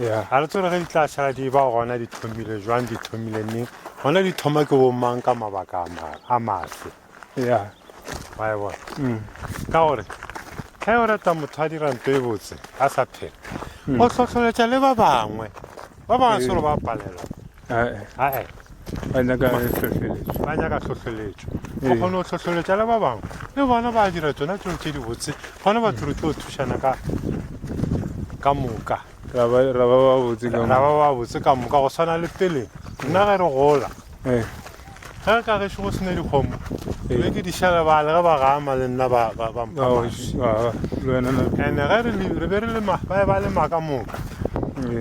ya ga re tsere ge di tla šala di ba gona di thomile jwang di thomile neng gona di thoma ke bomang ka mabaka a maswe ya wa e bona mm. ka gore ge o rata motho a dira nto e botse a sa phela mm. o tlhotlholetša le ba bangwe ba bangwe selo ba palelwa ae ba nyaka hlohleletšo ba nyaka hlohleletšo go kgone go hlohleletša le ba bangwe le bona ba dira tsona tseo tse dibotse gona batho re tlo thušana ka ka moka ra ba ba botse ka moka go swana le pele nna ge re gola ge ka gešo go sena dikgomo be ke di šala bale ge ba gama le nna ba mphamasene ge re be re lema ba e ba lema ka moka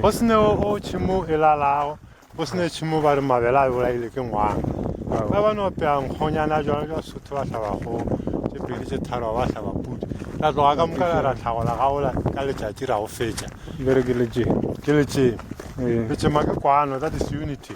go sene o tšhimo e lalago go sene tšhimo ba re mabele a bolaile ke ngwana ba ba no peya nkgonyana jalo jwa sotho ba tlhabagolo tše pedi tše tharo ba tlhaba pudi la tloga ka moka la ra tlhagola gaola ka letšatši ra go fetša ke letšeng letšema ke kwano that is unity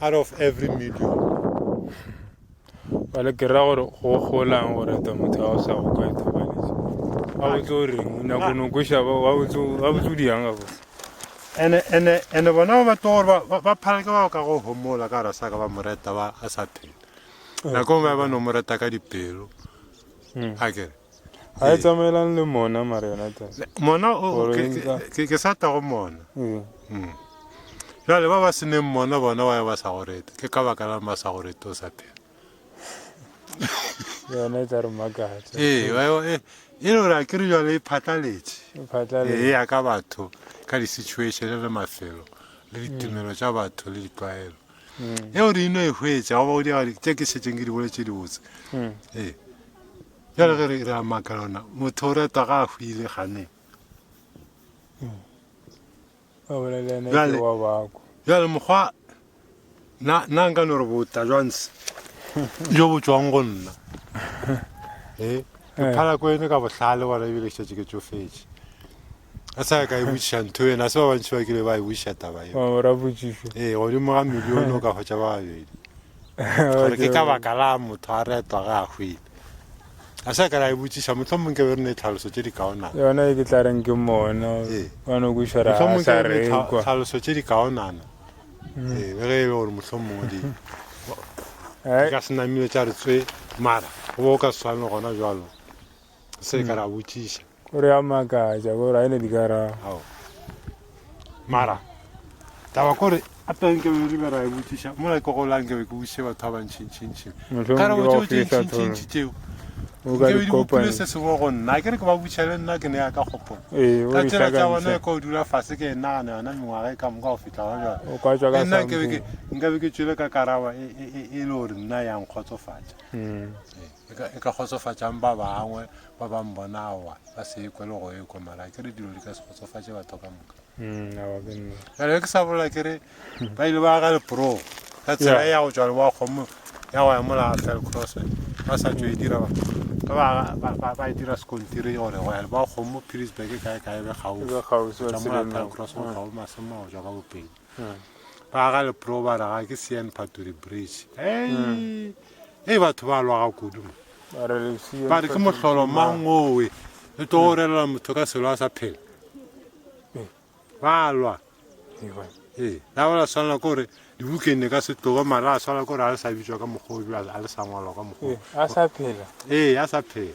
out of every million bale ke ra gore go golang go reta motho a o sa go ka ithobaletse a botse o reng o nyako no kweša ba wa botse wa botse o diyang ga botse ene ene ene bona ba tlo gore ba ba phala ke ba ka go homola ka rasa ka ba moreta ba a sa phela nako ba ba no moreta ka dipelo a kere ga e tsamaelane le mona mare yona mona ke sa tla go mona mm. jale ba ba seneng mona bona wa ba sa go rete ke ka baka la ba sa go rete o sa phela yona e tla re makatsa ee e, e le gore a ke re jale e phatlaletše e ya ka batho ka di-situation le mafelo le ditumelo tša batho le ditlwaelo mm. eo re ino e hwetša goba go diagadi tše ke šetseng ke di bole tše dibotse mm. ee jale ge re a maka lona motho o retwa ga a hwile gane mm. jale mokgwa na nka no re bota jwanse jo bo tswang go nna ee ke phala ko ene ka bohlale bona ebile šetse ke tsofetše a sa ka e botšiša ntho ena se ba bantši ba kile ba e botšiša taba eo wa mora botšišo ee godimo ga milione o ka hwetša ba babedi gore ke ka baka la motho a retwa ga a hwile a sa ka la e botšiša motlho mongwe ke be re ne tlhaloso tše di kaonana yona e ke tla reng ke mona ee. wa no kwišara ga a sa rekwa tlhaloso tše di kaonana mm. ee be ge e le gore motlho mongwe di eh? ka senamile tša re tswe mara go bo o ka swane gona jalo se ka ra botšiša Gore a makatša gore a ene di ka ra. Mara taba kore a teng ke be re ra e botšiša mo la go la nke be ke botšiše batho ba bantšhi ntšhi ntšhi ka re botšo tšhi ntšhi ntšhi ntšhi tšeo o ka di kopana se se go nna ke re ke ba botšiša le nna ke ne ya ka gopola ee, ka tsela tsa bona e ko dula fase ke nna ga yona mengwaga e ka moka go fihla ga jalo o ka tswa ka nna ke be ke nka be ke tšwele ka karaba e, e, e, e le gore nna yang kgotsofatša hmm. ee. e ka, e ka kgotsofatšang ba bangwe ba ba mbona aowa ba se ekwe le go ekwa mara ke re dilo di ka se kgotsofatše batho ka moka mm, jale ke sa bolela ke re ba ile ba ga lepro ka tsela ya go tšwa le wa kgomo ya go ya mola fell cross ba sa tšo e dira ba e dira sekontiri gore go ya le ba kgomo pilisburg kae kae be kgausitšwa mola fell cross go kgao masemo go tšwa ka bopedi ba aga lepro ba raga ke sean phatori bridge ei e batho ba lwaga kudu mo ba re ke mohlolo mang owe le tlo go relela motho ka selo a sa phela ba lwa ee la ba la swanela ke gore di-weekende ka se tloge mara a swanela ke gore a le sa bitswa ka mokgwa o a le sa ngwalwa ka mokgwa ee a sa phela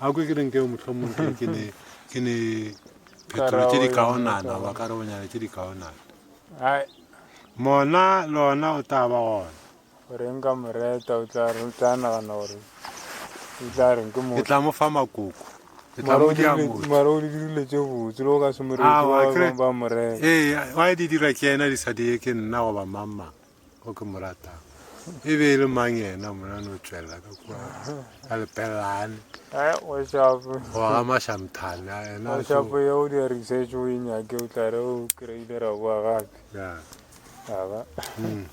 a kwe ke reng keo mohlomong ke ke ne ke ne phetola tše dikaonana goba karabonyana tše dikaonana mona lona o tla ba gona gore nka moreta o tla re o tla nagana gore o tla re ke mo ke tla mo fa makoko ke tla mo dira mo mara o dirile tše botse lo ka se moreta ba moreta ee wa di dira ke yena di sa di ke nna go ba mamma o ke mo ratang e be e le mang yena mona no tswelela ka kua ka lepelelane goga mašamthane enašapo ye o dia research o e nyake o tlare o kry-ile ra boa gape aba hmm.